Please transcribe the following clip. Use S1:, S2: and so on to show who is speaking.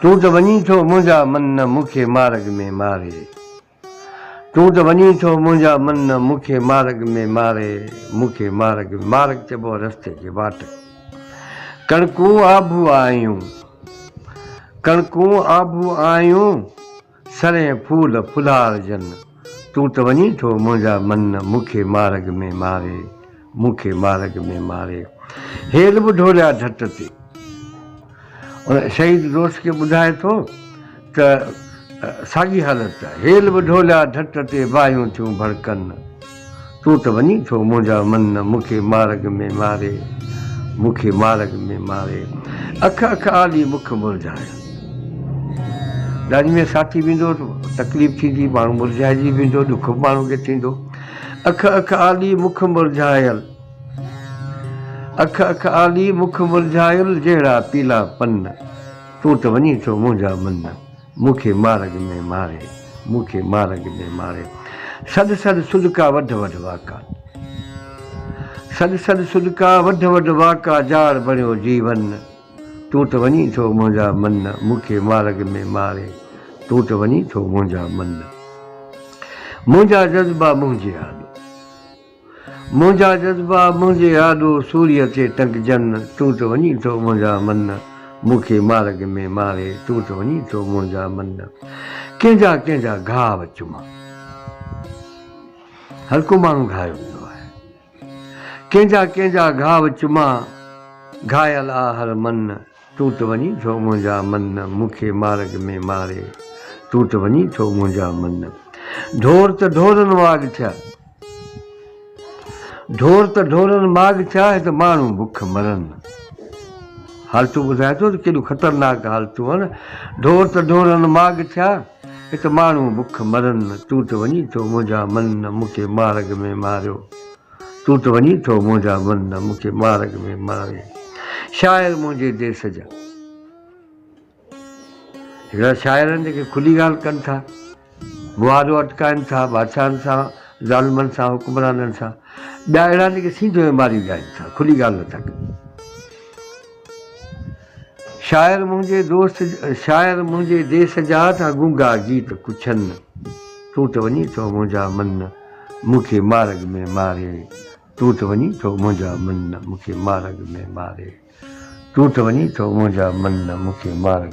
S1: تون ته وڃين ٿو منهنجا من نه مون کي مارڳ ۾ ماري تون ته وڃين ٿو منهنجا من نه مون کي مارڳ ۾ ماري مون کي مارڳ ۾ مارڳ چئبو آهي رستي کي واٽ ڪڻڪون آڀو آهيون ڪڻڪون آڀو آهيون سرين ڦول ڦلهار جن، تون ته وڃين ٿو منهنجا من مون کي مارگ ۾ ماري، مون کي مارگ ۾ ماري. هيل به ڍوريا ڍٽ تي ان شهيد دوست کي ٻڌائي ٿو ته ساڳي حالت هيل به ڍوليا ڍٽ تي باهيون ٿيون ڀڙڪن. تون ته وڃين ٿو منهنجا من نه مون کي مارگ ۾ ماري مون کي مارگ ۾ ماري اک اک آڏي مک مرجهايو ڏاڏي ۾ ساٿي ويندو تڪليف ٿيندي ماڻهو مرجهائجي ويندو ڏک ماڻهو کي ٿيندو اک اک آڏي مک مرجهايل اک اک آڏي مک مرجهايل جهڙا پيلا پن تون ته وڃين ٿو منهنجا من نه مون کي مارڳ ۾ ماري، مون کي مارڳ ۾ ماري. سڏ سڏ سڏڪا وڍ وڍ واڪا. سڏ سڏ سڏڪا وڍ وڍ واڪا جاڙ بڻيو جيون. تون ته وڃين ٿو منهنجا من مون کي مارڳ ۾ ماري. تون ته وڃين ٿو منهنجا من. منهنجا جذبا منهنجي آڏو. منهنجا جذبا منهنجي آڏو سوريء تي ٽنگجن، تون ته وڃين ٿو منهنجا من، مون کي مارڳ ۾ ماري، تون ته وڃين ٿو منهنجا من، ڪنهن جا ڪنهن جا گهاو چمان. هر ڪو ماڻهو گهايو ويندو آهي. ڪنهن جا ڪنهن جا گهاو چمان، گهايل آ هر من. تون ته وڃين ٿو منهنجا من مون کي مارڳ ۾ ماري تون ته وڃين ٿو منهنجا من ڍور ته ڍورن واڳ ٿيا ڍور ته ڍورن ماڳ ٿيا هت ماڻهو بک مرن حالتون ٻڌائي ٿو ته ڪيڏيون خطرناڪ حالتون آهن ڍور ته ڍورن ماڳ ٿيا هت ماڻهو بک مرن تون ته وڃين ٿو منهنجا من مون کي مارڳ ۾ ماريو تون ته وڃين ٿو منهنجا من نه مون کي مارڳ ۾ ماري شاعر منهنجي ديس جا هڪڙا شاعر آهن جيڪي کلي ڳالهه ڪن ٿا معاهدو اٽڪائن ٿا بادشاهن سان ظالمن سان حڪمرانن سان ٻيا اهڙا جيڪي سيڌو ماري ڳائن ٿا کلي ڳالهه نه ٿا ڪن شاعر منهنجي دوست شاعر منهنجي ديس جا ته گونگا گيت پڇن تون ته وڃين ٿو منهنجا من مون کي مارڳ ۾ ماري تون ته وڃين ٿو منهنجا من مون کي مارڳ ۾ ماري تون ته وڃين ٿو منهنجا من مون کي مارڳ